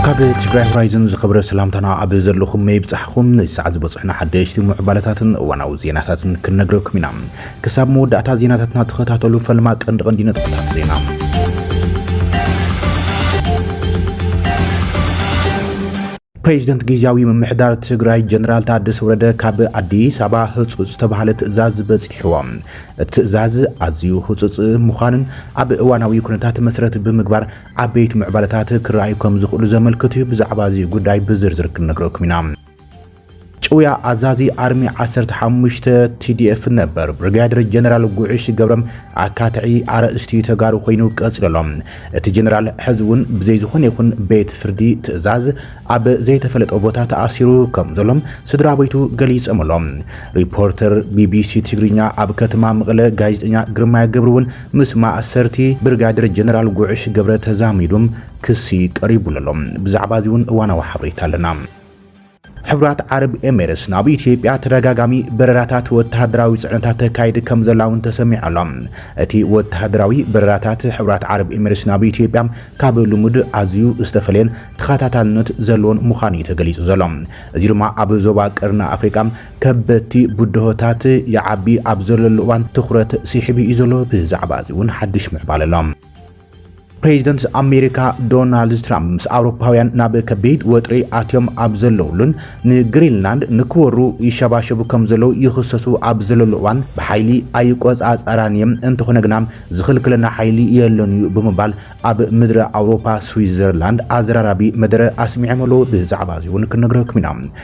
ካብ ትግራይ ሆራይዝን ዝኸብረ ሰላምታና ኣብ ዘለኹም መይብፃሕኹም ነዚ ሰዓት ዝበፅሑና ሓደሽቲ ምዕባለታትን እዋናዊ ዜናታትን ክንነግረኩም ኢና። ክሳብ መወዳእታ ዜናታትና ተኸታተሉ። ፈልማ ቀንዲ ቀንዲ ነጥብታት ዜና ፕሬዚደንት ጊዚያዊ ምምሕዳር ትግራይ ጀነራል ታደሰ ወረደ ካብ ኣዲስ ኣበባ ህፁፅ ዝተብሃለ ትእዛዝ በፂሕዎም። እቲ ትእዛዝ ኣዝዩ ህፁፅ ምዃኑን ኣብ እዋናዊ ኩነታት መሰረት ብምግባር ዓበይቲ ምዕባለታት ክረኣዩ ከምዝኽእሉ ዘመልክት እዩ። ብዛዕባ እዚ ጉዳይ ብዝርዝር ክንነግረኩም ኢና። ጭውያ ኣዛዚ ኣርሚ ዓሰርተ ሓሙሽተ ቲዲኤፍ ነበር ብርጋዴር ጀነራል ጉዕሽ ገብረም ኣካትዒ ኣርእስቲ ተጋሩ ኮይኑ ቀፂሉ ኣሎ። እቲ ጀነራል ሕዚ እውን ብዘይ ዝኾነ ይኹን ቤት ፍርዲ ትእዛዝ ኣብ ዘይተፈለጠ ቦታ ተኣሲሩ ከም ዘሎ ስድራቤቱ ገሊፆም ኣሎም። ሪፖርተር ቢቢሲ ትግርኛ ኣብ ከተማ መቐለ ጋዜጠኛ ግርማይ ገብሩ እውን ምስ ማእሰርቲ ብርጋዴር ጀነራል ጉዕሽ ገብረ ተዛሚዱ ክሲ ቀሪቡሉ ኣሎ። ብዛዕባ እዚ እውን እዋናዊ ሓበሬታ ኣለና። ሕብራት ዓረብ ኤሚሬትስ ናብ ኢትዮጵያ ተደጋጋሚ በረራታት ወተሃደራዊ ጽዕነታት ተካይድ ከምዘላ'ውን ተሰሚዑ ኣሎ። እቲ ወተሃደራዊ በረራታት ሕብራት ዓረብ ኤሚሬትስ ናብ ኢትዮጵያ ካብ ልሙድ ኣዝዩ ዝተፈለየን ተኸታታልነት ዘለዎን ምዃኑ'ዩ ተገሊጹ ዘሎ። እዚ ድማ ኣብ ዞባ ቀርኒ ኣፍሪቃ ከበድቲ ብድሆታት ይዓቢ ኣብ ዘለሉ እዋን ትኹረት ስሒቡ'ዩ ዘሎ። ብዛዕባ'ዚ'ውን ሓድሽ ምዕባለ ኣሎ። ፕሬዚደንት ኣሜሪካ ዶናልድ ትራምፕ ምስ ኣውሮፓውያን ናብ ከቢድ ወጥሪ ኣትዮም ኣብ ዘለውሉን ንግሪንላንድ ንክወሩ ይሸባሸቡ ከም ዘለዉ ይኽሰሱ ኣብ ዘለሉ እዋን ብሓይሊ ኣይቆፃፀራን እየ እንተኾነ ግና ዝኽልክለና ሓይሊ የለን እዩ ብምባል ኣብ ምድረ ኣውሮፓ ስዊዘርላንድ ኣዘራራቢ መደረ ኣስሚዖም ኣለዉ። ብዛዕባ እዚ እውን ክንነግረኩም ኢና።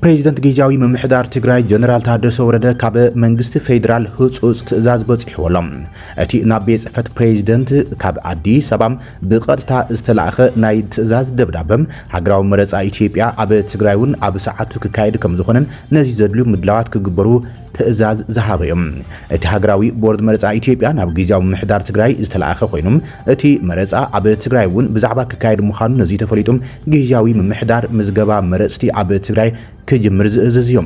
ፕሬዚደንት ጊዜያዊ ምምሕዳር ትግራይ ጀነራል ታደሰ ወረደ ካብ መንግስቲ ፌዴራል ህፁፅ ትእዛዝ በፂሕዎ ኣሎ። እቲ ናብ ቤት ፅሕፈት ፕሬዚደንት ካብ ኣዲስ ኣበባ ብቐጥታ ዝተላእኸ ናይ ትእዛዝ ደብዳበ ሃገራዊ መረፃ ኢትዮጵያ ኣብ ትግራይ እውን ኣብ ሰዓቱ ክካየድ ከምዝኾነን ነዚ ዘድልዩ ምድላዋት ክግበሩ ትእዛዝ ዝሃበ እዩ። እቲ ሃገራዊ ቦርድ መረፃ ኢትዮጵያ ናብ ጊዜያዊ ምምሕዳር ትግራይ ዝተለኣኸ ኮይኑ እቲ መረፃ ኣብ ትግራይ እውን ብዛዕባ ክካየድ ምዃኑ ነዙይ ተፈሊጡ ጊዜያዊ ምምሕዳር ምዝገባ መረፅቲ ኣብ ትግራይ ክጅምር ዝእዝዝ እዩ።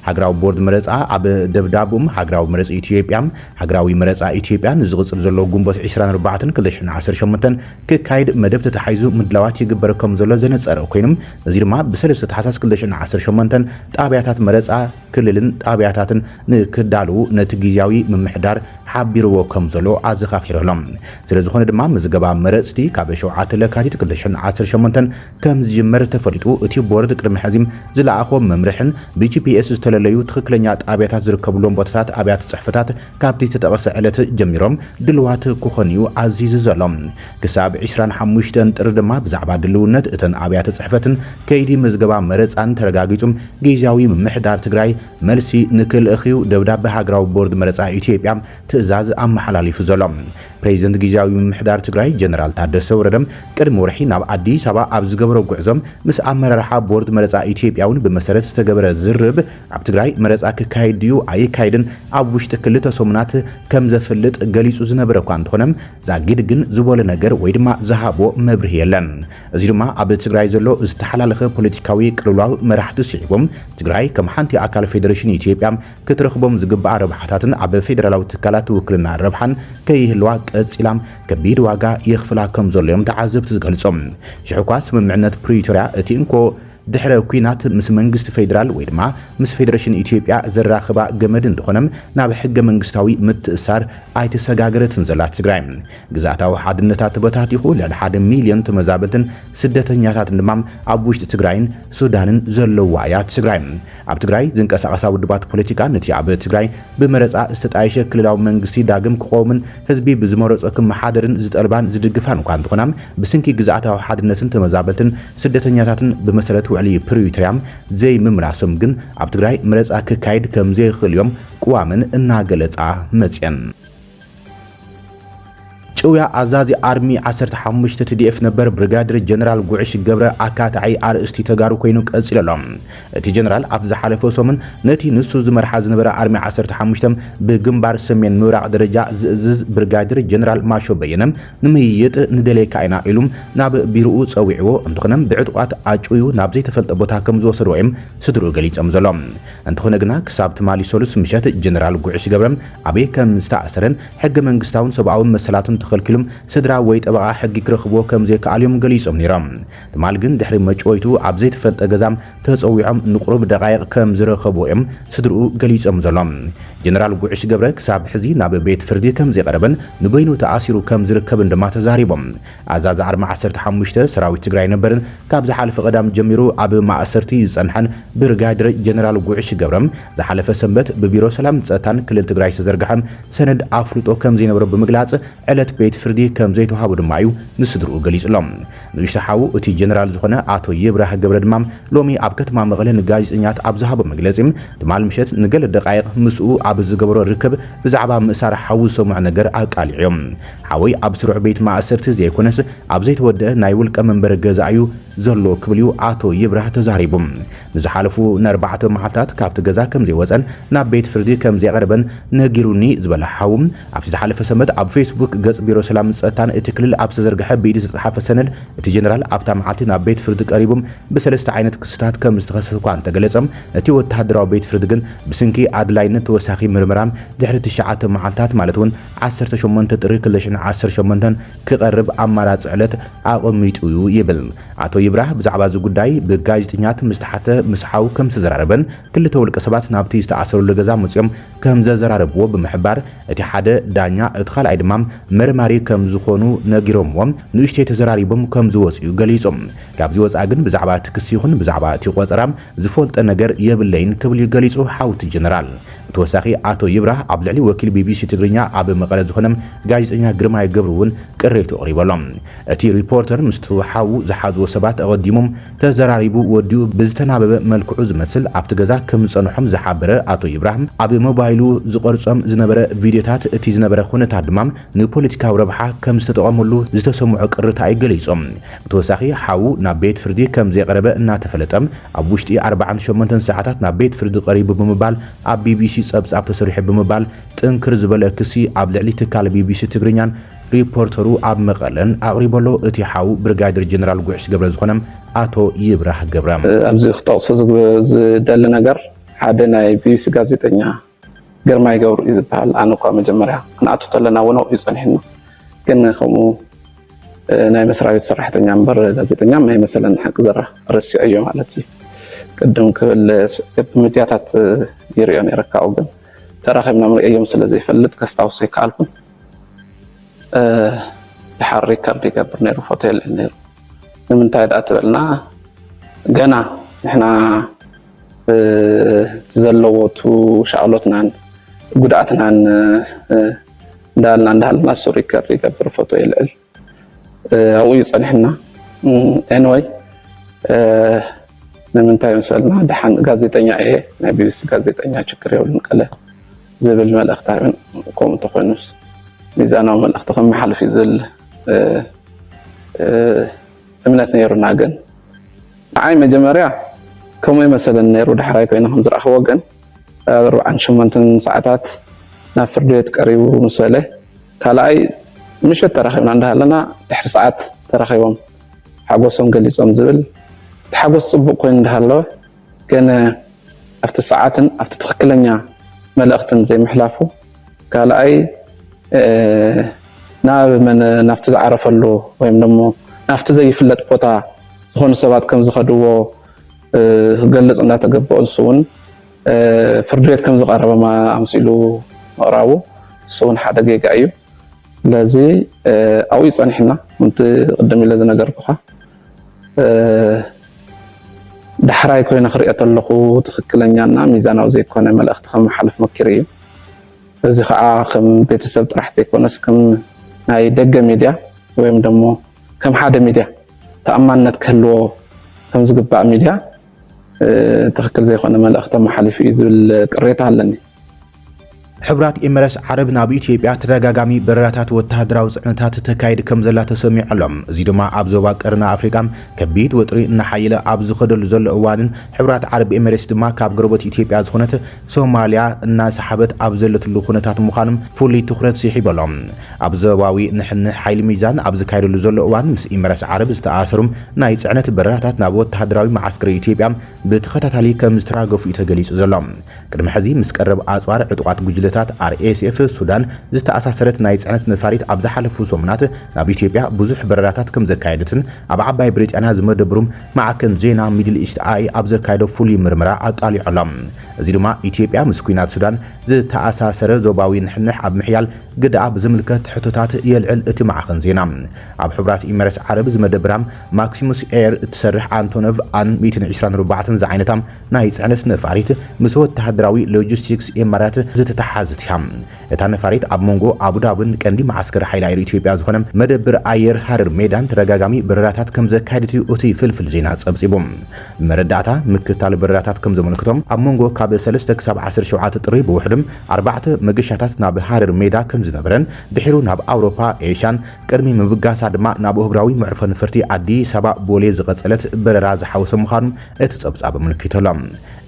ሃገራዊ ቦርድ መረፃ ኣብ ደብዳብኡም ሃገራዊ መረፂ ኢትዮጵያ ሃገራዊ መረፃ ኢትዮጵያ ንዝቕፅል ዘሎ ግንቦት ዕስራን ኣርባዕተን ክልተ ሽሕን ዓሰርተ ሸሞንተን ክካየድ መደብ ተታሒዙ ምድላዋት ይግበር ከምዘሎ ዘነፀረ ኮይኑ እዙይ ድማ ብሰለስተ ታሕሳስ ክልተ ሽሕን ዓሰርተ ሸሞንተን ጣብያታት መረፃ ክልልን ጣብያታትን ንክዳልዉ ነቲ ጊዚያዊ ምምሕዳር ሓቢርዎ ከምዘሎ ኣዘኻኺሩ ኣሎ። ስለዝኾነ ድማ ምዝገባ መረፅቲ ካብ ሸውዓተ ለካቲት ክልተ ሽሕን ዓሰርተ ሸሞንተን ከምዝጅመር ተፈሊጡ እቲ ቦርድ ቅድሚ ሕዚ ዝለኣኾ መምርሕን ብጂፒኤስ ዝተለለዩ ትኽክለኛ ጣብያታት ዝርከብሎም ቦታታት ኣብያተ ፅሕፈታት ካብቲ ዝተጠቐሰ ዕለት ጀሚሮም ድልዋት ክኾኑ'ዩ ኣዚዙ ዘሎ። ክሳብ ዕስራን ሓሙሽተን ጥሪ ድማ ብዛዕባ ድልውነት እተን ኣብያተ ጽሕፈትን ከይዲ ምዝገባ መረጻን ተረጋጊጹ ጊዚያዊ ምምሕዳር ትግራይ መልሲ ንክልእኽ'ዩ ደብዳበ ሃገራዊ ቦርድ መረጻ ኢትዮጵያ ትእዛዝ ኣመሓላሊፉ ዘሎ። ፕሬዚደንት ጊዚያዊ ምምሕዳር ትግራይ ጀነራል ታደሰ ወረደ ቅድሚ ወርሒ ናብ ኣዲስ ኣበባ ኣብ ዝገበሮ ጉዕዞ ምስ ኣመራርሓ ቦርድ መረጻ ኢትዮጵያ'ውን ብመሰረት ዝተገበረ ዝርርብ ኣብ ትግራይ መረፃ ክካየድ ድዩ ኣይካየድን ኣብ ውሽጢ ክልተ ሰሙናት ከምዘፍልጥ ገሊፁ ዝነበረ እኳ እንተኾነ ዛጊድ ግን ዝበሎ ነገር ወይ ድማ ዝሃቦ መብርሂ የለን። እዚ ድማ ኣብ ትግራይ ዘሎ ዝተሓላለኸ ፖለቲካዊ ቅልውላው መራሕቲ ስዒቡ ትግራይ ከም ሓንቲ ኣካል ፌደሬሽን ኢትዮጵያ ክትረኽቦም ዝግብኣ ረብሓታትን ኣብ ፌደራላዊ ትካላት ውክልና ረብሓን ከይህልዋ ቀፂላ ከቢድ ዋጋ የኽፍላ ከምዘሎ እዮም ተዓዘብቲ ዝገልፁ። ሽሕኳ ስምምዕነት ፕሪቶርያ እቲ እንኮ ድሕረ ኲናት ምስ መንግስቲ ፌዴራል ወይ ድማ ምስ ፌደረሽን ኢትዮጵያ ዘራኽባ ገመድ እንተኾነ ናብ ሕገ መንግስታዊ ምትእስሳር ኣይተሰጋገረትን ዘላ ትግራይ። ግዝኣታዊ ሓድነታ ተበታቲኹ ልዕሊ ሓደ ሚልዮን ተመዛበልትን ስደተኛታትን ድማ ኣብ ውሽጢ ትግራይን ሱዳንን ዘለዉዋ እያ ትግራይ። ኣብ ትግራይ ዝንቀሳቐሳ ውድባት ፖለቲካ ነቲ ኣብ ትግራይ ብመረፃ ዝተጣየሸ ክልላዊ መንግስቲ ዳግም ክቖውምን ህዝቢ ብዝመረፆ ክመሓደርን ዝጠልባን ዝድግፋን እኳ እንተኾና ብስንኪ ግዝኣታዊ ሓድነትን ተመዛበልትን ስደተኛታትን ብመሰረት ውዕሊ ፕሪቶርያ ዘይምምላሶም ግን ኣብ ትግራይ መረፃ ክካየድ ከምዘይኽእል እዮም ቅዋመን እናገለፃ መፅየን። ጭውያ ኣዛዚ ኣርሚ ዓሰርተ ሓሙሽተ ትዲኤፍ ነበር ብርጋዴር ጀነራል ጉዕሽ ገብረ ኣካታዒ ኣርእስቲ ተጋሩ ኮይኑ ቀፂሉ ኣሎ። እቲ ጀነራል ኣብ ዝሓለፈ ሰሙን ነቲ ንሱ ዝመርሓ ዝነበረ ኣርሚ ዓሰርተ ሓሙሽተ ብግንባር ሰሜን ምብራቕ ደረጃ ዝእዝዝ ብርጋዴር ጀነራል ማሾ በየነ ንምይይጥ ንደልየካ ኢና ኢሉ ናብ ቢሮኡ ጸዊዕዎ እንተኾነ ብዕጡቓት ኣጭውዩ ናብ ዘይተፈልጠ ቦታ ከምዝወሰድዎ እዮም ስድርኡ ገሊጾም ዘሎ። እንተኾነ ግና ክሳብ ትማሊ ሰሉስ ምሸት ጀነራል ጉዕሽ ገብረ ኣበይ ከምዝተኣሰረን ሕገ መንግስታውን ሰብኣዊ መሰላቱን ተኸልኪሉ ስድራ ወይ ጠበቓ ሕጊ ክረኽብዎ ከምዘይከኣሉ እዮም ገሊጾም ነይሮም። ትማል ግን ድሕሪ መጭወይቱ ኣብ ዘይተፈልጠ ገዛ ተጸዊዖም ንቑሩብ ደቓይቕ ከም ዝረኸብዎ'ዮም ስድርኡ ገሊጾም ዘሎ። ጀነራል ጉዕሽ ገብረ ክሳብ ሕዚ ናብ ቤት ፍርዲ ከም ዘይቐረበን ንበይኑ ተኣሲሩ ከም ዝርከብን ድማ ተዛሪቦም። ኣዛዚ ዓርሚ ዓሰርተ ሓሙሽተ ሰራዊት ትግራይ ነበርን ካብ ዝሓለፈ ቀዳም ጀሚሩ ኣብ ማእሰርቲ ዝጸንሐን ብርጋዴር ጀነራል ጉዕሽ ገብረ ዝሓለፈ ሰንበት ብቢሮ ሰላምን ጸጥታን ክልል ትግራይ ዝተዘርግሐ ሰነድ ኣፍልጦ ከም ዘይነበሮ ብምግላጽ ዕለት ቤት ፍርዲ ከም ዘይተዋሃቦ ድማ'ዩ ንስድርኡ ገሊጹሎም። ንእሽቶ ሓው እቲ ጀነራል ዝኾነ ኣቶ ይብራህ ገብረ ድማ ሎሚ ኣብ ከተማ መቐለ ንጋዜጠኛት ኣብ ዝሃቦ መግለጺ ትማል ምሸት ንገለ ደቓይቕ ምስኡ ኣብ ዝገበሮ ርክብ ብዛዕባ ምእሳር ሓዉ ዝሰምዖ ነገር ኣቃሊዑ። ሓወይ ኣብ ስሩዕ ቤት ማእሰርቲ ዘይኮነስ ኣብ ዘይተወደኣ ናይ ውልቀ መንበሪ ገዛ እዩ ዘሎ ክብል እዩ ኣቶ ይብራህ ተዛሪቡ። ንዝሓለፉ ንኣርባዕተ መዓልታት ካብቲ ገዛ ከምዘይወጸን ናብ ቤት ፍርዲ ከምዘይቐረበን ነጊሩኒ ዝበለ ሓዉ፣ ኣብቲ ዝሓለፈ ሰንበት ኣብ ፌስቡክ ገጽ ቢሮ ሰላምን ጸጥታን እቲ ክልል ኣብ ዝተዘርግሐ ብኢዱ ዝተጻሓፈ ሰነድ፣ እቲ ጀነራል ኣብታ መዓልቲ ናብ ቤት ፍርዲ ቀሪቡ ብሰለስተ ዓይነት ክስታት ከም ዝተኸሰሰ'ኳ እንተገለጸ፣ እቲ ወተሃደራዊ ቤት ፍርዲ ግን ብስንኪ ኣድላይነት ተወሳኺ ምርመራ ድሕሪ ትሽዓተ መዓልታት ማለት እውን ዓሰርተ ሸሞንተ ጥሪ ክልተ ሽሕን ዓሰርተ ሸሞንተን ክቐርብ ኣማራጺ ዕለት ኣቐሚጡ'ዩ ይብል። ኣቶ ይብራህ ብዛዕባ እዚ ጉዳይ ብጋዜጠኛት ምስ ተሓተ ምስ ሓው ከም ዝተዘራረበን ክልተ ውልቀሰባት ናብቲ ዝተኣሰረሉ ገዛ መጺኦም ከም ዘዘራረብዎ ብምሕባር፣ እቲ ሓደ ዳኛ እቲ ካልኣይ ድማ መርማሪ ከም ዝኾኑ ነጊሮምዎም ንእሽተይ ተዘራሪቦም ከም ዝወጽኡ'ዩ ገሊጹ። ካብዚ ወጻኢ ግን ብዛዕባ እቲ ክሲ ይኹን ብዛዕባ እቲ ቆጸራ ዝፈልጦ ነገር የብለይን ክብል'ዩ ገሊጹ ሓውቲ ጀነራል። ብተወሳኺ ኣቶ ይብራህ ኣብ ልዕሊ ወኪል ቢቢሲ ትግርኛ ኣብ መቐለ ዝኾነ ጋዜጠኛ ግርማይ ገብሩ'ውን ቅሬትኡ ኣቕሪቡ ኣሎ። እቲ ሪፖርተር ምስቱ ሓዉ ዝሓዝዎ ሰባት ኣቐዲሞም ተዘራሪቡ ወዲኡ ብዝተናበበ መልክዑ ዝመስል ኣብቲ ገዛ ከም ዝጸንሖም ዝሓበረ ኣቶ ይብራህ፣ ኣብ ሞባይሉ ዝቐርጾም ዝነበረ ቪድዮታት እቲ ዝነበረ ኩነታት ድማ ንፖለቲካዊ ረብሓ ከም ዝተጠቐመሉ ዝተሰምዖ ቅርታ'ዩ ገሊጹ። ብተወሳኺ ሓዉ ናብ ቤት ፍርዲ ከም ዘይቐረበ እናተፈለጠ ኣብ ውሽጢ ኣርባዓን ሸሞንተን ሰዓታት ናብ ቤት ፍርዲ ቀሪቡ ብምባል ኣብ ቢቢሲ ጸብጻብ ተሰሪሑ ብምባል ጥንክር ዝበለ ክሲ ኣብ ልዕሊ ትካል ቢቢሲ ትግርኛን ሪፖርተሩ ኣብ መቐለ ኣቕሪቡ'ሎ። እቲ ሓው ብርጋዴር ጀነራል ጉዕሽ ገብረ ዝኾነ ኣቶ ይብራህ ገብረ። ኣብዚ ክጠቕሶ ዝደሊ ነገር ሓደ ናይ ቢቢሲ ጋዜጠኛ ግርማይ ገብሩ እዩ ዝበሃል። ኣነ እኳ መጀመርያ ክንኣቱ ተለና እውን ኣብኡ እዩ ጸኒሑና። ግን ከምኡ ናይ መስራቤት ሰራሕተኛ እምበር ጋዜጠኛ ማይመሰለን ሓቂ ዘራ ረሲዐዮ ማለት እዩ። ቅድም ክብል ብሚድያታት ይሪኦ ነይረ ካብኡ ግን ተራኺብና ምሪኤዮም ስለዘይፈልጥ ከስታውሶ ኣይከኣልኩን። ድሓር ሪከርድ ይገብር ነይሩ ፎቶ የለን ነይሩ ንምንታይ ዳኣ ትበልና ገና ንሕና ዘለዎ ቱ ሻቅሎትናን ጉድኣትናን እንዳበልና እንዳሃለና እሱ ሪከርድ ይገብር ፎቶ የልዕል። ኣብኡ እዩ ፀኒሑና ኤንወይ ንምንታይ መሰልና ደሓን ጋዜጠኛ እየ ናይ ቢቢሲ ጋዜጠኛ ችግር የብሉን ቀለ ዝብል መልእኽቲ ሃበን ከምኡ እንተኮይኑስ ሚዛናዊ መልእኽቲ ከመሓልፍ እዩ ዝብል እምነት ነይሩና ግን ንዓይ መጀመርያ ከምኡ መሰለኒ ነይሩ ዳሕራይ ኮይነ ከምዝረኣኽዎ ግን ኣብ ኣርብዓን ሸሞንተን ሰዓታት ናብ ፍርድ ቤት ቀሪቡ ምስ በለ ካልኣይ ምሸት ተራኺብና እንዳሃለና ድሕሪ ሰዓት ተራኺቦም ሓጎሶም ገሊፆም ዝብል እቲ ሓጎስ ፅቡቕ ኮይኑ እንዳሃለወ ገነ ኣብቲ ሰዓትን ኣብቲ ትኽክለኛ መልእኽትን ዘይምሕላፉ ካልኣይ ናብ መን ናብቲ ዝዓረፈሉ ወይም ደሞ ናብቲ ዘይፍለጥ ቦታ ዝኾኑ ሰባት ከም ዝኸድዎ ክገልጽ እናተገበኦ ንሱ እውን ፍርድ ቤት ከም ዝቐረበ ኣምሲሉ ምቕራቡ ንሱ እውን ሓደ ጌጋ እዩ። ስለዚ ኣብኡ ጸኒሕና ምንቲ ቅድም ኢለ ዝነገርኩኻ ዳሕራይ ኮይነ ክሪኦ ተለኹ ትኽክለኛና ሚዛናዊ ዘይኮነ መልእኽቲ ከመሓልፍ መኪሩ እዩ። እዚ ከዓ ከም ቤተሰብ ጥራሕ ዘይኮነስ ከም ናይ ደገ ሚድያ ወይም ደሞ ከም ሓደ ሚድያ ተኣማንነት ክህልዎ ከምዝግባእ ሚድያ ትኽክል ዘይኮነ መልእኽቲ ኣመሓሊፉ እዩ ዝብል ቅሬታ ኣለኒ። ሕቡራት ኤምረስ ዓረብ ናብ ኢትዮጵያ ተደጋጋሚ በረራታት ወተሃደራዊ ጽዕነታት ተካይድ ከም ዘላ ተሰሚዑ ኣሎ። እዚ ድማ ኣብ ዞባ ቀርኒ ኣፍሪቃ ከቢድ ወጥሪ እናሓየለ ኣብ ዝኸደሉ ዘሎ እዋንን ሕቡራት ዓረብ ኤምሬትስ ድማ ካብ ጎረበት ኢትዮጵያ ዝኾነት ሶማልያ እናሰሓበት ኣብ ዘለትሉ ኩነታት ምዃኑ ፍሉይ ትኹረት ስሒቡ ኣሎ። ኣብ ዞባዊ ንሕንሕ ሓይሊ ሚዛን ኣብ ዝካየደሉ ዘሎ እዋን ምስ ኢመራት ዓረብ ዝተኣሳሰሩ ናይ ጽዕነት በረራታት ናብ ወተሃደራዊ መዓስከር ኢትዮጵያ ብተኸታታሊ ከምዝተራገፉ'ዩ ተገሊጹ ዘሎ። ቅድሚ ሕዚ ምስ ቀረብ ኣጽዋር ዕጡቓት ጉጅለታት RSF ሱዳን ዝተኣሳሰረት ናይ ጽዕነት ነፋሪት ኣብ ዝሓለፉ ሰሙናት ናብ ኢትዮጵያ ብዙሕ በረራታት ከምዘካየደትን ኣብ ዓባይ ብሪጣንያ ዝመደብሩ ማዕከን ዜና ሚድል ኢስት ኣይ ኣብ ዘካየዶ ፍሉይ ምርመራ ኣቃሊዑ ኣሎ። እዚ ድማ ኢትዮጵያ ምስ ኲናት ሱዳን ዝተኣሳሰረ ዞባዊ ንሕንሕ ኣብ ምሕያል ግደኣ ብዝምልከት ሕቶታት የልዕል እቲ ማዕኸን ዜና። ኣብ ሕቡራት ኢመረትስ ዓረብ ዝመደበራ ማክሲሙስ ኤር እትሰርሕ ኣንቶኖቭ ኣን ሚእትን ዒስራን ኣርባዕተን ዝዓይነታ ናይ ጽዕነት ነፋሪት ምስ ወተሃደራዊ ሎጂስቲክስ ኢማራት ዝተተሓሓዘት እያ። እታ ነፋሪት ኣብ መንጎ ኣቡዳብን ቀንዲ መዓስከር ሓይሊ ኣየር ኢትዮጵያ ዝኾነ መደብር ኣየር ሃረር ሜዳን ተደጋጋሚ በረራታት ከምዘካየደት'ዩ እቲ ፍልፍል ዜና ጸብጺቡ። መረዳእታ ምክትታል በረራታት ከምዘመልክቶ፣ ኣብ መንጎ ካብ ሰለስተ ክሳብ ዓሰርተ ሸውዓተ ጥሪ ብውሕዱ ኣርባዕተ መገሻታት ናብ ሃረር ሜዳ ከምዝነበረን ድሒሩ ናብ ኣውሮፓ፣ ኤሽያን ቅድሚ ምብጋሳ ድማ ናብ ኣህጉራዊ መዕርፎ ነፈርቲ ኣዲስ ኣበባ ቦሌ ዝቐጸለት በረራ ዝሓወሰ ምዃኑ እቲ ጸብጻብ ኣመልኪቱ'ሎ።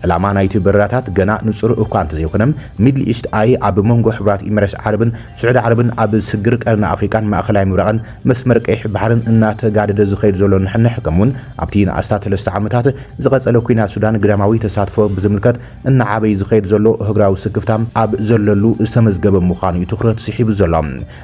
ዕላማ ናይቲ በረራታት ገና ንጹር እኳ እንተዘይኮነ፣ ሚድል ኢስት ኣይ ኣብ መንጎ ሕቡራት ኢመረስ ዓረብን ስዑዲ ዓረብን ኣብ ስግር ቀርኒ ኣፍሪቃን ማእከላይ ምብራቕን መስመር ቀይሕ ባሕርን እናተጋደደ ዝኸይድ ዘሎ ንሕንሕ ከምኡ'ውን ኣብቲ ንኣስታት ሰለስተ ዓመታት ዝቐጸለ ኲናት ሱዳን ግዳማዊ ተሳትፎ ብዝምልከት እናዓበይ ዝኸይድ ዘሎ እህግራዊ ስክፍታ ኣብ ዘለሉ ዝተመዝገበ ምዃኑ'ዩ ትኹረት ስሒቡ ዘሎ።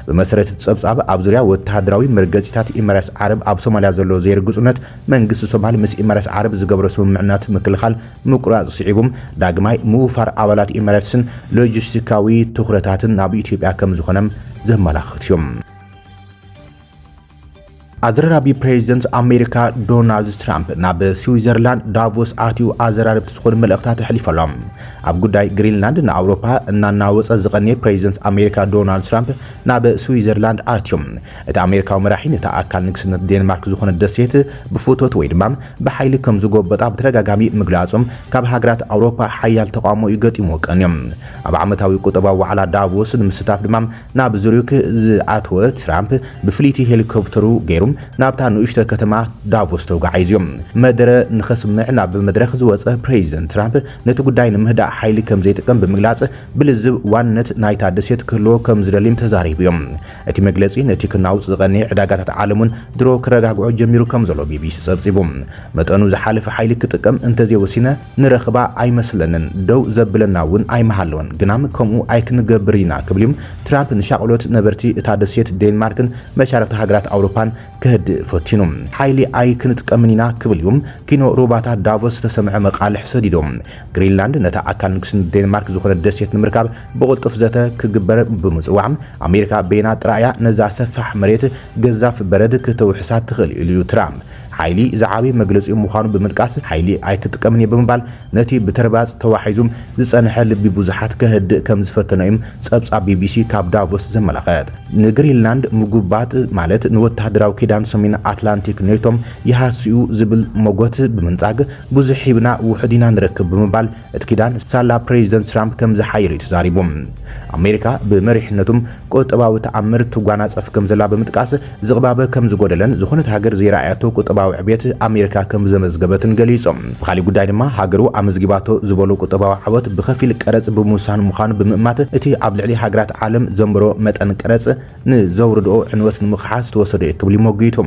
ብመሰረት እቲ ጸብጻብ፣ ኣብ ዙርያ ወተሃደራዊ መርገጺታት ኢመረስ ዓረብ ኣብ ሶማልያ ዘሎ ዘይርግጹነት፣ መንግስቲ ሶማል ምስ ኢማራት ዓረብ ዝገብሮ ስምምዕናት ምክልኻል ምቁራጽ ስዒቡ፣ ዳግማይ ምውፋር ኣባላት ኢማራትስን ሎጂስቲካዊ ትኹረታትን ናብ ኢትዮጵያ ከምዝኾነ ዘመላኽት እዩ። ኣዘራራቢ ፕሬዚደንት ኣሜሪካ ዶናልድ ትራምፕ ናብ ስዊዘርላንድ ዳቮስ ኣትዩ ኣዘራረብቲ ዝኾኑ መልእኽታት ኣሕሊፉ ኣሎ። ኣብ ጉዳይ ግሪንላንድ ንኣውሮፓ እናናወጸ ዝቐንየ ፕሬዚደንት ኣሜሪካ ዶናልድ ትራምፕ ናብ ስዊዘርላንድ ኣትዩ እቲ ኣሜሪካዊ መራሒ ነታ ኣካል ንግስነት ዴንማርክ ዝኾነት ደሴት ብፍቶት ወይ ድማ ብሓይሊ ከም ዝጎበጣ ብተደጋጋሚ ምግላጾም ካብ ሃገራት ኣውሮፓ ሓያል ተቓውሞ እዩ ገጢምዎ ቀንዩ። ኣብ ዓመታዊ ቁጠባዊ ዋዕላ ዳቮስ ንምስታፍ ድማ ናብ ዙሪክ ዝኣተወ ትራምፕ ብፍልይቲ ሄሊኮፕተሩ ገይሩ ናብታ ንኡሽተ ከተማ ዳቮስ ተጓዒዙ መደረ ንኸስምዕ ናብ መድረኽ ዝወጸ ፕሬዚደንት ትራምፕ ነቲ ጉዳይ ንምህዳእ ሓይሊ ከም ዘይጥቀም ብምግላጽ ብልዝብ ዋንነት ናይታ ደሴት ክህልዎ ከም ዝደልይም ተዛሪቡ'ዩ። እቲ መግለጺ ነቲ ክናውጽ ዝቐነየ ዕዳጋታት ዓለም እውን ድሮ ክረጋግዖ ጀሚሩ ከም ዘሎ ቢቢሲ ጸብጺቡ። መጠኑ ዝሓለፈ ሓይሊ ክጥቀም እንተዘይወሲነ ንረኽባ ኣይመስለንን፣ ደው ዘብለና እውን ኣይምሃለወን፣ ግናም ከምኡ ኣይክንገብር ኢና ክብል እዩ ትራምፕ ንሻቕሎት ነበርቲ እታ ደሴት ዴንማርክን መሻርኽቲ ሃገራት ኣውሮፓን ከህድእ ፈቲኑ። ሓይሊ ኣይክንጥቀምን ኢና ክብል እዩ ኪኖ ሩባታ ዳቮስ ዝተሰምዐ መቓልሕ ሰዲዱ። ግሪንላንድ ነታ ኣካል ንግስነት ዴንማርክ ዝኾነት ደሴት ንምርካብ ብቕልጡፍ ዘተ ክግበር ብምጽዋዕ፣ ኣሜሪካ በይና ጥራይ'ያ ነዛ ሰፋሕ መሬት ገዛፍ በረድ ክተውሕሳ ትኽእል ኢሉ'ዩ ትራምፕ። ሓይሊ ዝዓበየ መግለጺኡ ምዃኑ ብምጥቃስ፣ ሓይሊ ኣይክጥቀምን'የ ብምባል ነቲ ብተርባጽ ተዋሒዙ ዝጸንሐ ልቢ ብዙሓት ከህድእ ከምዝፈተነ'ዩ ጸብጻብ ቢቢሲ ካብ ዳቮስ ዘመላኽት። ንግሪንላንድ ምጉባጥ ማለት ንወተሃደራዊ ኪዳን ሰሜን ኣትላንቲክ ኔቶ ይሃስ'ዩ ዝብል መጎት ብምንጻግ፣ ብዙሕ ሂብና ውሑድ ኢና ንረክብ ብምባል፣ እቲ ኪዳን ሳላ ፕሬዚደንት ትራምፕ ከምዝሓየለ'ዩ ተዛሪቡ። ኣሜሪካ ብመሪሕነቱ ቁጠባዊ ተኣምር ትጓናፀፍ ከምዘላ ብምጥቃስ፣ ዝቕባበ ከምዝጎደለን ዝኾነት ሃገር ዘይረኣያቶ ቁጠባዊ ዕብየት ኣሜሪካ ከምዘመዝገበትን ገሊፁ። ብኻሊእ ጉዳይ ድማ ሃገሩ ኣመዝጊባቶ ዝበሎ ቁጠባዊ ዓወት ብከፊል ቀረፅ ብምውሳን ምዃኑ ብምእማት፣ እቲ ኣብ ልዕሊ ሃገራት ዓለም ዘንበሮ መጠን ቀረፅ ንዘውርድኦ ዕንወት ንምኽሓስ ዝተወሰደ'ዩ ክብል'ዩ ሞጊቱ።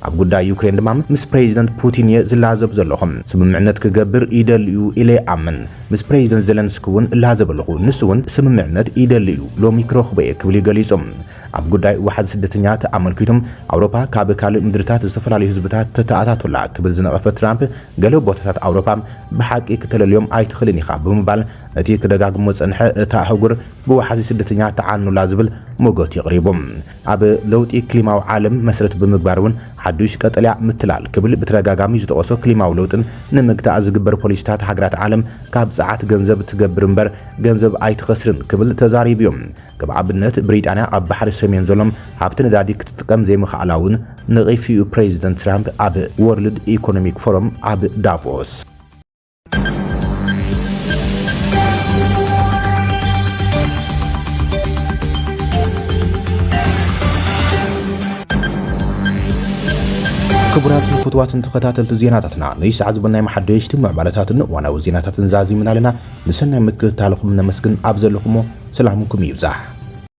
ኣብ ጉዳይ ዩክሬን ድማ ምስ ፕሬዚደንት ፑቲን እየ ዝላዘብ ዘለኹ። ስምምዕነት ክገብር ይደሊ እዩ ኢለ ይኣምን። ምስ ፕሬዚደንት ዘለንስኪ እውን እላዘብ ኣለኹ፣ ንሱ እውን ስምምዕነት ይደሊ እዩ፣ ሎሚ ክረኽቦ እየ ክብል እዩ ገሊፁ። ኣብ ጉዳይ ዋሕዚ ስደተኛታት ኣመልኪቱ ኣውሮፓ ካብ ካልእ ምድሪታት ዝተፈላለዩ ህዝብታት ተተኣታቱ ኣላ ክብል ዝነቐፈ ትራምፕ ገለ ቦታታት ኣውሮፓ ብሓቂ ክተለልዮም ኣይትኽእልን ኢኻ ብምባል ነቲ ክደጋግሞ ዝፀንሐ እታ ኣህጉር ብዋሕዚ ስደተኛታት ትዓኑ ኣላ ዝብል ሞገቱ የቕሪቡ። ኣብ ለውጢ ክሊማዊ ዓለም መስረት ብምግባር እውን ሓዱሽ ቀጠልያ ምትላል ክብል ብተደጋጋሚ ዝጠቐሶ ክሊማዊ ለውጥን ንምግታእ ዝግበር ፖሊሲታት ሃገራት ዓለም ካብ ጸዓት ገንዘብ ትገብር እምበር ገንዘብ ኣይትኸስርን ክብል ተዛሪቡ እዩ። ከም ኣብነት ብሪጣንያ ኣብ ባሕሪ ሰሜን ዘሎ ሃብቲ ነዳዲ ክትጥቀም ዘይምኽኣላ እውን ነቒፉ እዩ ፕሬዚደንት ትራምፕ ኣብ ወርልድ ኢኮኖሚክ ፎረም ኣብ ዳቮስ። ክቡራትን ፍትዋትን ተኸታተልቲ ዜናታትና ነይ ሰዓት ዝበናይ መሓደሽቲ ምዕባለታትን እዋናዊ ዜናታትን ዛዚምና ኣለና። ንሰናይ ምክትታልኹም ነመስግን። ኣብ ዘለኹሞ ሰላምኩም ይብዛሕ።